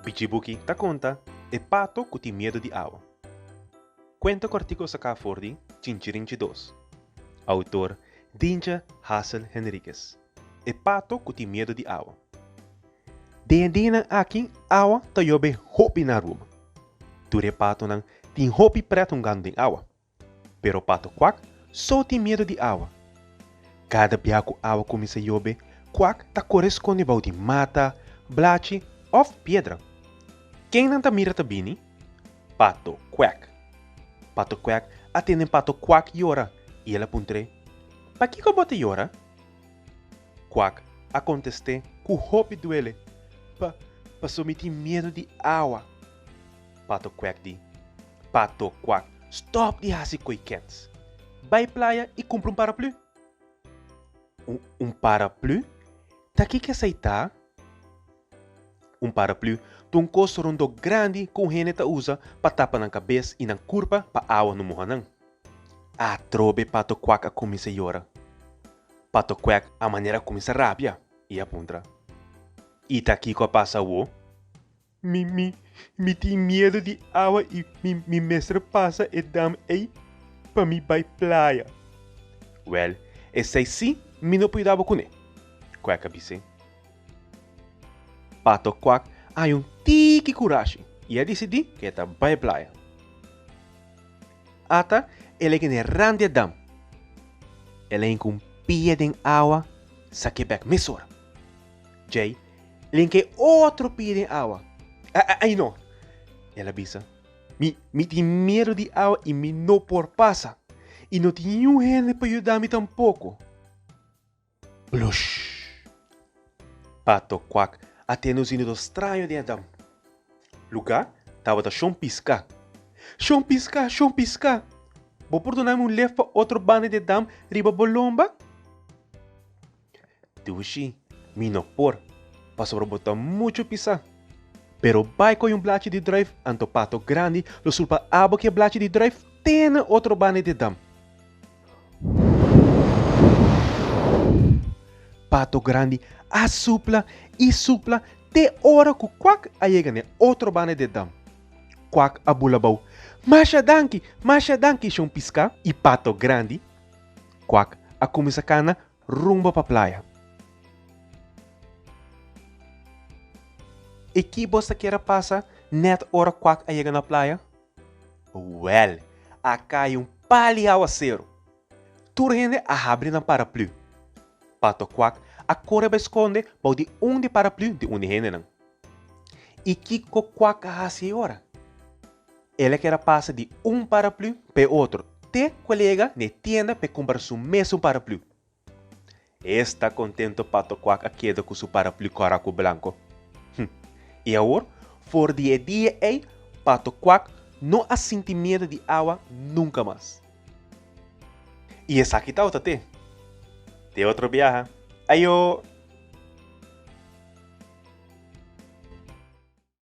Bichibuki ta konta E pato ku tin miedu di awa. Kuenta ku artíkulo saká for di Chinchirinchi dos. Outor, Dintje Hassel Henriquez. E pato ku tin miedu di awa. Den e dianan aki awa ta yobe hopi na Aruba. Tur e patonan tin hopi prèt hungandu den awa. Pero pato kwak so tin miedo di awa. Kada bia ku awa kuminsá yobe, kwak ta kore skonde bou di mata, blachi òf piedra. Ken nan ta mira ta bini? Pato kwak. Pato kwak a tende pato kwak yora i el a puntr'é, Pakiko bo ta yora? Kwak a kontest'é ku hopi duele, Pa, paso mi tin miedo di awa. Pato Kwèk di, Pato Kwak, stòp di hasi koikèts! Bai playa i kumpra un paraplü! Un un paraplü? Ta kiko esei ta? Un paraplü ta un kos rondó grandi ku un hende ta usa pa tapa nan kabes i nan kurpa pa awa no moha nan. Atrobe Pato Kwak a kuminsá yora. Pato Kwèk a manera a kuminsá rabia i a puntra, I ta kiko a pasa awo? Mi tin miedu di awa i mi mester pasa e dam ei pa mi bai playa. Wèl, esei sí mi no pueda bo kuné, Kwèk a bis'é. Pato Kwak a haña un tiki kurashi i a disidí ku e ta bai playa. Ata e lei kende ran di e dam, el a hinka un pia den awa, sak'é bèk mesora. Djei Len ke otro piden awa. Ai no, el a bisa. Mi, mi tin miedu di awa i mi no por pasa. I no tin niun hende pa yuda mi tampoko. Plush! Pato Kwak a tende un zinido straño den e dam. Lugá tabata shon piská. Shon piská, shon piská! Bo por duna mi un lef pa otro banda di e dam riba bo lomba? Tushi, mi no por, pasobra bo ta muchu pisá. Pero bai koi un blachi di druif, anto pato grandi lo sulpa abo ki e blachi di druif te na otro banda di dam. Pato grandi a supla i supla te ora ku Kwak a yega na e otro banda di dam. Kwak a bulabou, Masha danki, masha danki, Shon Piská i Pato grandi. Kwak a kuminsá kana rumbo pa playa. I ki bos ta kere pasa nèt ora Kwak a yega na playa? Wèl, a kai un pali awaseru! Tur hende a habri nan paraplü. Pato Kwak a kore bai skonde bou di un di paraplü di un di hendenan. I kiko Kwak a hasi ei ora? El a keda pasa di un paraplü p'e otro te ku el yega n'e tienda p'e kumpra su mesun paraplü. E sta kontento pa tokwak a keda ku su paraplü kòrá ku blanko. Hm, i awor for di e dia ei pa tokwak no a sinti miedu di awa nunka mas. I esaki ta ota te. Te otro biaha. Ayo!